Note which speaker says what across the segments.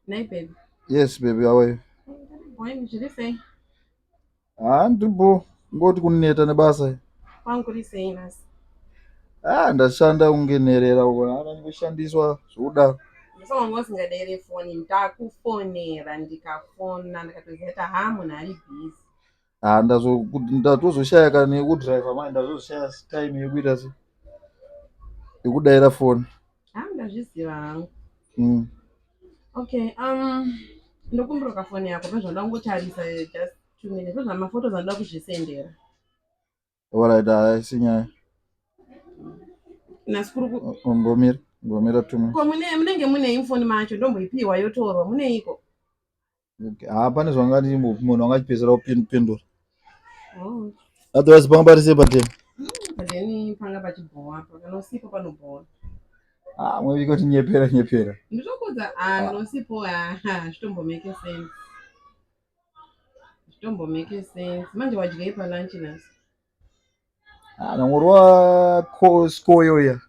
Speaker 1: Nei baby? Yes baby, how are
Speaker 2: you? Wayne, zviri
Speaker 1: sei? Ah, ndiripo
Speaker 2: ngoti kuneta nebasa. Kwangu kuri sei
Speaker 1: nhasi? Ah,
Speaker 2: ndashanda kunge nherera uko, hana ndoshandiswa zvokudaro. Ndosaka wanga usingadere
Speaker 1: foni, ndakufonera ndikafona ndikatoziva kuti haa munhu ari busy. Ah, ndazo- kuti ndatozoshaya
Speaker 2: kana yekudriver manje ndazoshaya time yekuita se yekudaira foni Ah, ndazviziva
Speaker 1: hangu Mm.
Speaker 2: okay
Speaker 1: um ndokumbira kafoni yako pezvanoda kungotarisa eh, just two minutes pezvamaphotos anoda kuzvisendera
Speaker 2: Alright, haisi nyaya.
Speaker 1: Nhasi kuri ku Ngomira,
Speaker 2: ngomira two minutes. ko mune munenge
Speaker 1: mune
Speaker 2: infoni
Speaker 1: macho ndomboipiwa yotorwa muneiko? Okay.
Speaker 2: Ah, pane zvangati munhu angachipedzera kupindura.
Speaker 1: Oh, Otherwise panga
Speaker 2: parise patema. but then panga
Speaker 1: pachibhowa apa kana usipo panobhowa. Ah,
Speaker 2: mwevi kuti nyepera nyepera. Nditokuudza ah
Speaker 1: kana usipo ah hazvitombomeke sense. Zvitombo make sense. Manje wadyei pa lunch nhasi? Ah, nangorwa
Speaker 2: ko skoyo ya.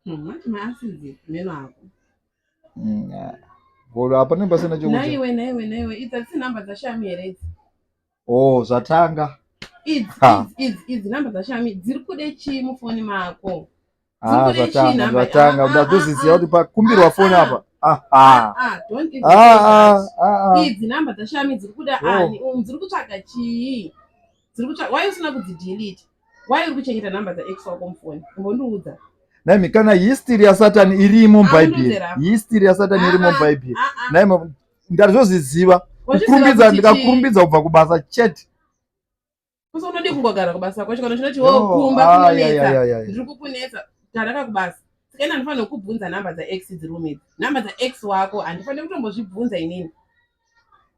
Speaker 2: Hmm,
Speaker 1: manje maasidi meno ako. Mm, ah.
Speaker 2: Bolo apa ne pasina chokudya. Naiwe naiwe naiwe idza
Speaker 1: tsi number dza shami here idzi? Oh,
Speaker 2: zvatanga. Idzi
Speaker 1: idzi idzi number dza shami dziri kude chii mufoni mako? Ah, zvatanga
Speaker 2: zvatanga uda kuzviziva kuti pakumbirwa foni apa
Speaker 1: idzi namba dzashami dziri kuda oh. ani um, dziri kutsvaga chii dziri kutsvaga wai usina kudzidelete wai uri kuchengeta namba dzaex wako mufoni umbondiudza naimi kana
Speaker 2: history yasatani irimo ah, mubhaibheri history yasatani irimo ah, mubhaibheri naimi ndari zvozviziva kukurumbidza ndikakurumbidza kubva kubasa chete
Speaker 1: Kusi unodi kungogara kubasa kwacho kana chinoti wo oh, kumba ah, kunonetsa. Ndiri kukunetsa. Taraka kubasa. Saka ina ndifana kukubvunza number dza ex dziri room idzi. Number dza ex wako handifane kutombozvibvunza inini.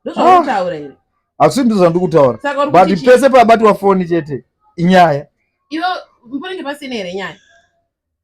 Speaker 1: Ndozvakutaura ah. iri. Asi ndizvo zvandiri
Speaker 2: kutaura. But pese pabatwa foni chete inyaya. Iwe
Speaker 1: mponenge pasina here nyaya?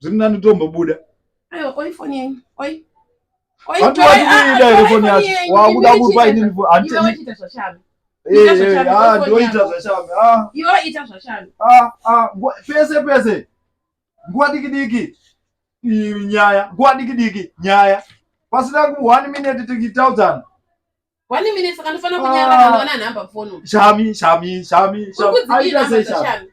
Speaker 2: zviri nani tombobuda
Speaker 1: vatuvatukuida here foni
Speaker 2: yacho wakuda kupa ini ndoita zvashame
Speaker 1: pese
Speaker 2: pese nguva diki diki nyaya nguva diki diki nyaya pasina ku one minute tikitaudzana one
Speaker 1: minute saka ndofana kunyara kana wana nhamba fono shami shami shami
Speaker 2: shami aita sei
Speaker 1: shami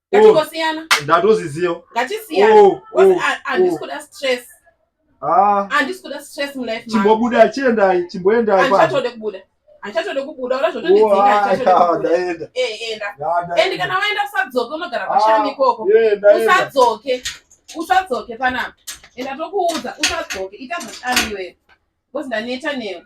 Speaker 1: ngatingosiyana oh, ndatozviziva
Speaker 2: ngatisiyana oh,
Speaker 1: oh, handisi kuda stress ah. handisi kuda stress mulife chimbobuda chiendai
Speaker 2: chimboendai handichatode kubuda
Speaker 1: handichatode kubuda ura zvotondidzingaenda eh, enda and kana waenda usadzoke unogara pashami ah, ikoko usadzoke usadzoke panapa enda tokuudza usadzoke ita zvashami iweyo because ndaneta newe